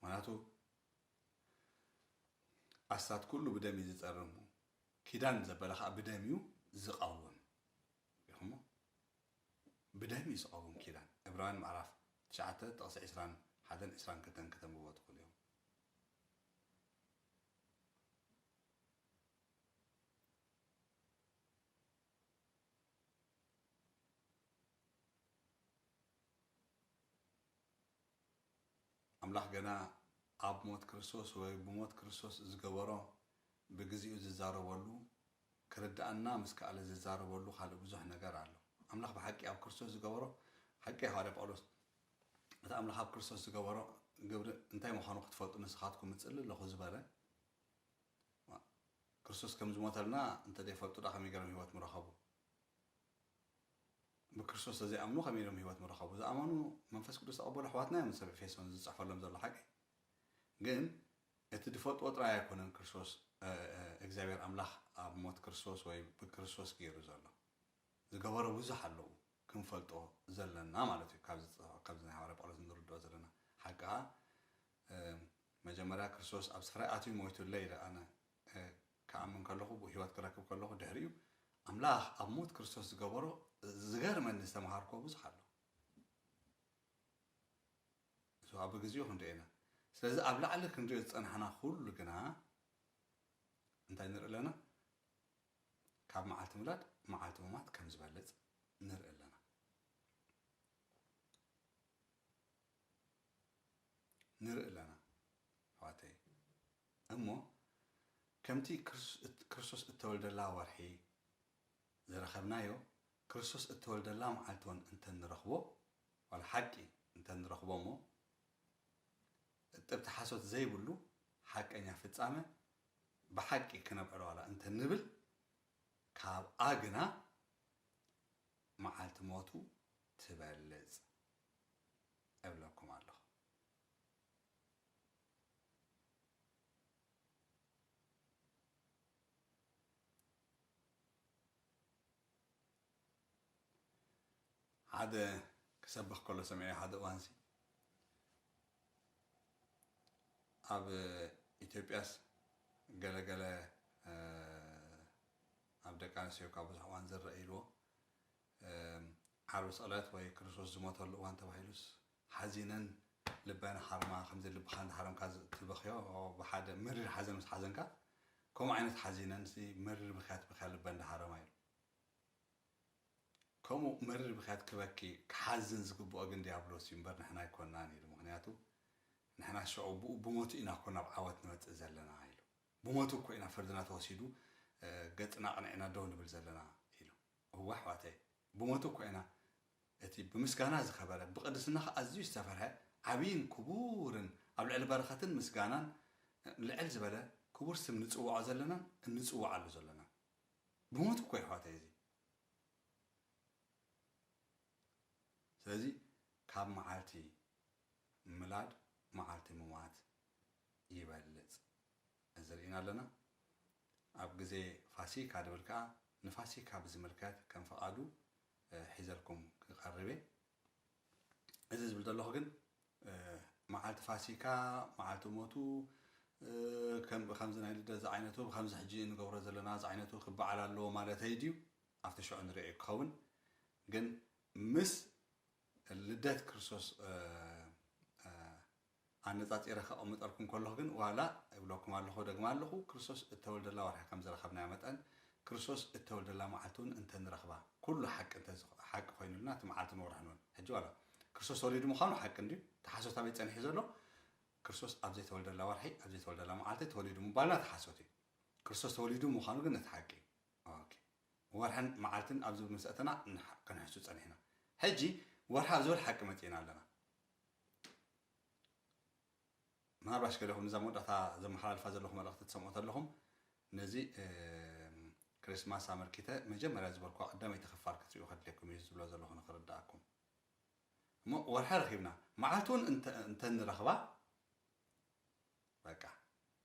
ምክንያቱ ኣስታት ኩሉ ብደም እዩ ዝፀርሙ ኪዳን ዘበለ ከዓ ብደም እዩ ዝቐውም ይኹሞ ብደም እዩ ዝቐውም ኪዳን። ዕብራውያን ምዕራፍ ትሽዓተ ጥቕሲ ዕስራን ሓደን ዕስራን ክልተን ክተንብብዎ ትኽእሉ ኢኹም። ኣምላኽ ገና ኣብ ሞት ክርስቶስ ወይ ብሞት ክርስቶስ ዝገበሮ ብግዚኡ ዝዛረበሉ ክርድኣና ምስ ከኣለ ዝዛረበሉ ካልእ ብዙሕ ነገር ኣሎ። ኣምላኽ ብሓቂ ኣብ ክርስቶስ ዝገበሮ ሓቂ እዩ ሃዋርያ ጳውሎስ እቲ ኣምላኽ ኣብ ክርስቶስ ዝገበሮ ግብሪ እንታይ ምዃኑ ክትፈልጡ ንስኻትኩም እጽሊ ኣለኹ ዝበለ ክርስቶስ ከም ዝሞተልና እንተ ደይፈልጡ ዳ ከመይ ገይሮም ህይወት ምረኸቡ ብክርስቶስ ተዘይኣምኑ ከመይ ኢሎም ህይወት ምረኸቡ? ዝኣመኑ መንፈስ ቅዱስ ዝተቐበሉ ኣሕዋትና እዮም እዚ ሰብ ኤፌሶን እዚ ዝጽሕፈሎም ዘሎ ሓቂ። ግን እቲ ዝፈልጥዎ ጥራይ ኣይኮነን ክርስቶስ እግዚኣብሔር ኣምላኽ ኣብ ሞት ክርስቶስ ወይ ብክርስቶስ ገይሩ ዘሎ ዝገበሮ ብዙሕ ኣለዉ ክንፈልጦ ዘለና ማለት እዩ ካብዚ ዝጸ- ካብዚ ናይ ሃዋርያ ጳውሎስ እንርድኦ ዘለና ሓቂ ከኣ መጀመርያ ክርስቶስ ኣብ ስፍራይ ኣትዩ ሞይቱለይ ኢለ ኣነ ክኣምን ከለኹ ብ ህይወት ክረክብ ከለኹ ድሕሪኡ ኣምላኽ ኣብ ሞት ክርስቶስ ዝገበሮ ዝገርመኒ ዝተምሃርክዎ ብዙሕ ኣሎ እዚ ኣብ ግዚኡ ክንሪኦ ኢና ስለዚ ኣብ ላዕሊ ክንሪኦ ዝጸናሕና ኩሉ ግና እንታይ ንርኢ ኣለና ካብ መዓልቲ ምላድ መዓልቲ ምማት ከም ዝበልጽ ንርኢ ኣለና ንርኢ ኣለና ኣሕዋተይ እሞ ከምቲ ክርስቶስ እተወልደላ ወርሒ ዝረኸብናዮ፣ ክርስቶስ እተወልደላ መዓልቲውን እንተ ንረኽቦ፣ ዋላ ሓቂ እንተ ንረኽቦ እሞ፣ እጥብቲ ሓሶት ዘይብሉ ሓቀኛ ፍጻመ ብሓቂ ክነብዕሎ ዋላ እንተ ንብል፣ ካብኣ ግና መዓልቲ ሞቱ ትበልጽ እብለኩም ኣሎኹ። ሓደ ክሰብኽ ከሎ ሰሚዐ ሓደ እዋንሲ ኣብ ኢትዮጵያስ ገለገለ ኣብ ደቂ ኣንስትዮ ካብ ብዙሕ እዋን ዝረአ ኢልዎ ዓርቢ ስቕለት ወይ ክርስቶስ ዝሞተሉ እዋን ተባሂሉስ ሓዚነን ልበን ሃርማ ከምዚ ልብኻ እንዳሃረምካ ትበኽዮ ብሓደ መሪር ሓዘን ምስ ሓዘንካ ከምኡ ዓይነት ሓዚነንሲ መሪር ብኽያት በኽያ ልበን እንዳሃረማ ኢሉ ከምኡ መሪር ብኽያት ክበኪ ክሓዝን ዝግብኦ ግን ድያብሎስ እዩ እምበር ንሕና ኣይኮናን ኢሉ ምኽንያቱ ንሕና ሽዑ ብኡ ብሞቱ ኢና እኮ ናብ ዓወት ንመጽእ ዘለና ኢሉ ብሞቱ እኮ ኢና ፍርድና ተወሲዱ ገጽና ኣቕኒዕና ደው ንብል ዘለና ኢሉ እወ ኣሕዋተይ፣ ብሞቱ እኮ ኢና እቲ ብምስጋና ዝከበረ፣ ብቅድስናኻ ኣዝዩ ዝተፈርሐ ዓብይን ክቡርን ኣብ ልዕሊ በረከትን ምስጋናን ልዕል ዝበለ ክቡር ስም ንጽውዖ ዘለናን እንጽውዓሉ ዘሎናን። ብሞቱ እኮ እዩ ኣሕዋተይ እዚ። ስለዚ ካብ መዓልቲ ምላድ መዓልቲ ምሟት ይበልጽ ገንዘብ ርኢና ኣለና። ኣብ ግዜ ፋሲካ ድብል ከኣ ንፋሲካ ብዝምልከት ከም ፍቓዱ ሒዘልኩም ክቐርብ እየ። እዚ ዝብል ዘለኹ ግን መዓልቲ ፋሲካ፣ መዓልቲ ሞቱ፣ ከም ብከምዚ ናይ ልደት ዝዓይነቱ ብከምዚ ሕጂ እንገብሮ ዘለና ዝዓይነቱ ክበዓል ኣለዎ ማለተይ ድዩ? ኣብቲ ሽዑ ንርእዮ ክኸውን ግን ምስ ልደት ክርስቶስ ኣነጻጺረ ከቐምጠልኩም ከለኹ ግን ዋላ እብለኩም ኣለኹ እደግማ ኣለኹ ክርስቶስ እተወልደላ ወርሒ ከም ዝረኸብናያ መጠን ክርስቶስ እተወልደላ መዓልቲ ውን እንተ ንረኽባ ኩሉ ሓቂ እንተ ሓቂ ኮይኑልና እቲ መዓልትን ወርሕን ውን ሕጂ ዋላ ክርስቶስ ተወሊዱ ምዃኑ ሓቂ እንድዩ እቲ ሓሶት ኣበይ ጸኒሑ ዘሎ ክርስቶስ ኣብ ዘይተወልደላ ወርሒ ኣብ ዘይተወልደላ መዓልቲ ተወሊዱ ምባልና እቲ ሓሶት እዩ ክርስቶስ ተወሊዱ ምዃኑ ግን እቲ ሓቂ እዩ ኦኬ ወርሕን መዓልትን ኣብ ዝብል ምስ ኣተና ክንሕሱ ጸኒሕና ሕጂ ወርሒ ኣብ ዝብል ሓቂ መጺእና ኣለና ምናልባሽ ገለኹም ንዛ መወዳእታ ዘመሓላልፋ ዘለኹ መልእኽቲ ትሰምዑ ተለኹም ነዚ ክሪስማስ ኣመልኪተ መጀመርያ ዝበልኩዋ ቀዳመይቲ ክፋል ክትሪኡ ከድልየኩም እዩ ዝብሎ ዘለኹ ንክርድኣኩም እሞ ወርሒ ረኺብና መዓልቲ እውን እንተንረኽባ በቃ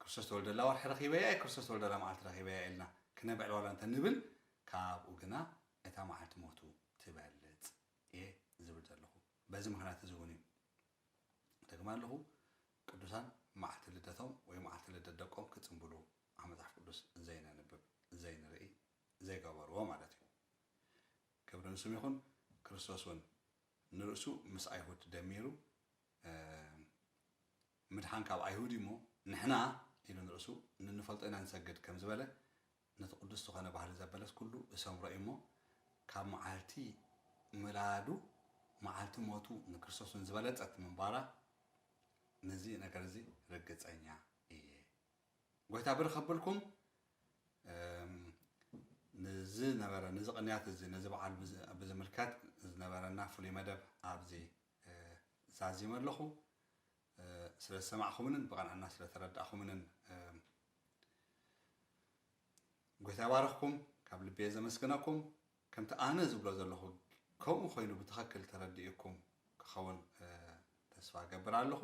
ክርስቶስ ተወልደላ ወርሒ ረኺበያ እየ ክርስቶስ ተወልደላ መዓልቲ ረኺበያ ኢልና ክነብዕል ዋላ እንተንብል ካብኡ ግና እታ መዓልቲ ሞቱ ትበልፅ እየ ዝብል ዘለኹ በዚ ምኽንያት እዚ እውን እዩ እደግማ ኣለኹ ቅዱሳን መዓልቲ ልደቶም ወይ መዓልቲ ልደት ደቆም ክጽንብሉ ኣብ መጽሓፍ ቅዱስ ዘይነንብብ ዘይንርኢ ዘይገበርዎ ማለት እዩ ክብሪ ንስም ይኹን ክርስቶስ እውን ንርእሱ ምስ ኣይሁድ ደሚሩ ምድሓን ካብ ኣይሁድ እሞ ንሕና ኢሉ ንርእሱ ንንፈልጦ ኢና ንሰግድ ከም ዝበለ ነቲ ቅዱስ ዝኾነ ባህሊ ዘበለስ ኩሉ እሰምሮ እዩ እሞ ካብ መዓልቲ ምላዱ መዓልቲ ሞቱ ንክርስቶስ እውን ዝበለጸት ምንባራ ንዚ ነገር እዚ ርግጸኛ እየ። ጎይታ ብር ከብልኩም ንዚ ነበረ ንዚ ቅንያት እዚ ነዚ በዓል ብዝምልከት ዝነበረና ፍሉይ መደብ ኣብዚ ዛዚመ ኣለኹ። ስለ ዝሰማዕኹምንን ብቐንዕና ስለ ተረዳእኹምንን ጎይታ ይባርኽኩም ካብ ልቤ ዘመስግነኩም ከምቲ ኣነ ዝብሎ ዘለኹ ከምኡ ኮይኑ ብትኸክል ተረዲኡኩም ክኸውን ተስፋ ገብር ኣለኹ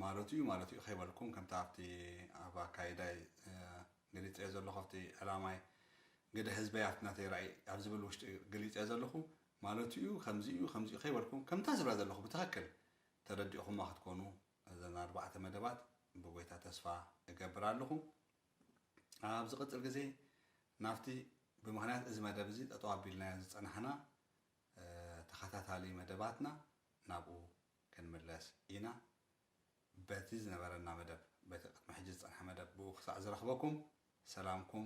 ማለቱ እዩ ማለቱ እዩ ከይበልኩም ከምቲ ኣብቲ ኣብ ኣካይዳይ ገሊፀዮ ዘለኹ ኣብቲ ዕላማይ ግደ ህዝበይ ኣብቲ ናተይ ራእይ ኣብ ዝብል ውሽጢ ገሊፀዮ ዘለኹ ማለቱ እዩ ከምዚ እዩ ከምዚ እዩ ከይበልኩም ከምታ ዝብላ ዘለኹ ብትኽክል ተረዲእኹማ ክትኮኑ እዘን ኣርባዕተ መደባት ብጎይታ ተስፋ እገብር ኣለኹ። ኣብ ዝቅጽል ግዜ ናብቲ ብምኽንያት እዚ መደብ እዚ ጠጠው ኣቢልናዮ ዝጸናሕና ተኸታታሊ መደባትና ናብኡ ክንምለስ ኢና። በቲ ዝነበረና መደብ በቲ ቅድሚ ሕጂ ዝጸንሐ መደብ ብኡ ክሳዕ ዝረኽበኩም ሰላምኩም